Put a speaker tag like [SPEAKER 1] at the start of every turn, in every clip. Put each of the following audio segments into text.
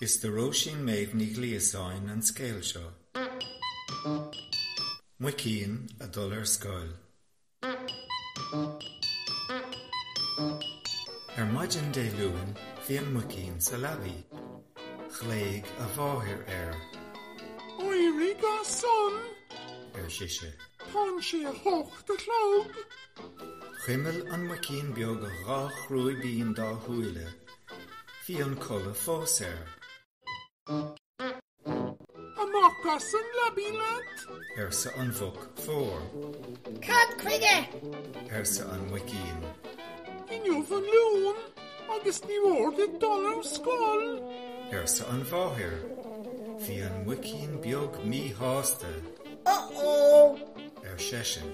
[SPEAKER 1] Is do Róisín Méabh Ní Ghliasáin an scéal seo. Muicín ag dul ar scoil. Ar maidin Dé Luain bhí an muicín sa leabaidh. Ghlaoidh a mháthair air.
[SPEAKER 2] Éirigh as san! ar sise.
[SPEAKER 1] Tá'n sé
[SPEAKER 2] a h-ocht a chlog. Chuimil
[SPEAKER 1] an muicín beag a dhá chrúibín dá shúile. Bhí an codladh fós air.
[SPEAKER 2] Amach as an leabaidh leat! arsa an mhuc
[SPEAKER 1] mhór. Cad
[SPEAKER 3] chuige? arsa an
[SPEAKER 1] muicín. Inniu
[SPEAKER 2] an Luan agus ní mhór duit dul ar scoil! arsa
[SPEAKER 1] an mháthair. Bhí an muicín beag míshásta.
[SPEAKER 3] Uh-oh! ar
[SPEAKER 1] seisean.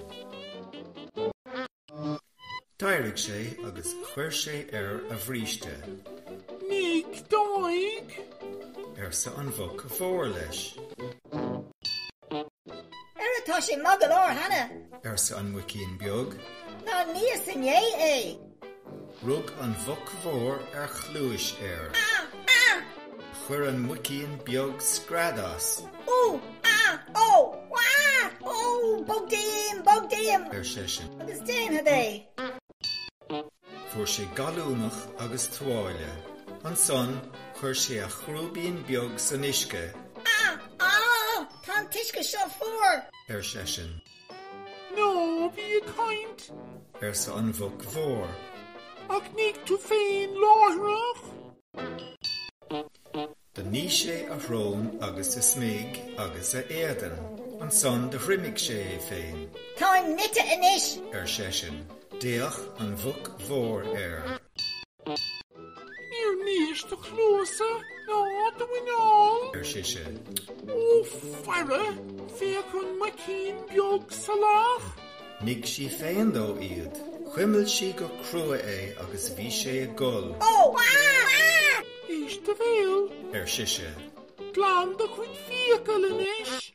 [SPEAKER 1] D'éirigh sé agus chuir sé air a bhríste. Nigh
[SPEAKER 2] d'aghaidh!
[SPEAKER 1] arsa an mhuc mhór
[SPEAKER 3] leis. Ara tá sé maith go leor cheana! arsa an muicín
[SPEAKER 1] beag. Ná níos
[SPEAKER 3] inné é!
[SPEAKER 1] Rug an mhuc mhór ar chluais air. Chuir an muicín beag scread as. Ú! Á! Ó! Á! Ó!
[SPEAKER 3] Bog díom! Bog díom! ar seisean. Agus
[SPEAKER 1] déanfad é! Fuair sé gallúnach agus tuáille. Ansan chuir sé a chrúibín beag san uisce. Á! Á!
[SPEAKER 3] Tá an t-uisce seo fuar! ar seisean.
[SPEAKER 2] Ná bí ag caint! arsa
[SPEAKER 1] an Mhuc Mhór. Ach
[SPEAKER 2] nigh tú féin láithreach!
[SPEAKER 1] Do nigh sé a shrón agus a smig agus a éadan. Ansan do thriomaigh sé é féin. Táim nite
[SPEAKER 3] anois! ar seisean.
[SPEAKER 1] D'fhéach an Mhuc Mhór air.
[SPEAKER 2] Níor nís do chluasa ná do mhuineál. ar
[SPEAKER 1] sise. Ó
[SPEAKER 2] faire, féach an muicín beag salach. Nigh
[SPEAKER 1] sí féin dó iad. Chuimil sí go crua é agus bhí sé ag gol. Ó! Éist
[SPEAKER 2] do bhéal. ar sise.
[SPEAKER 1] Glan
[SPEAKER 2] do chuid fiacal anois.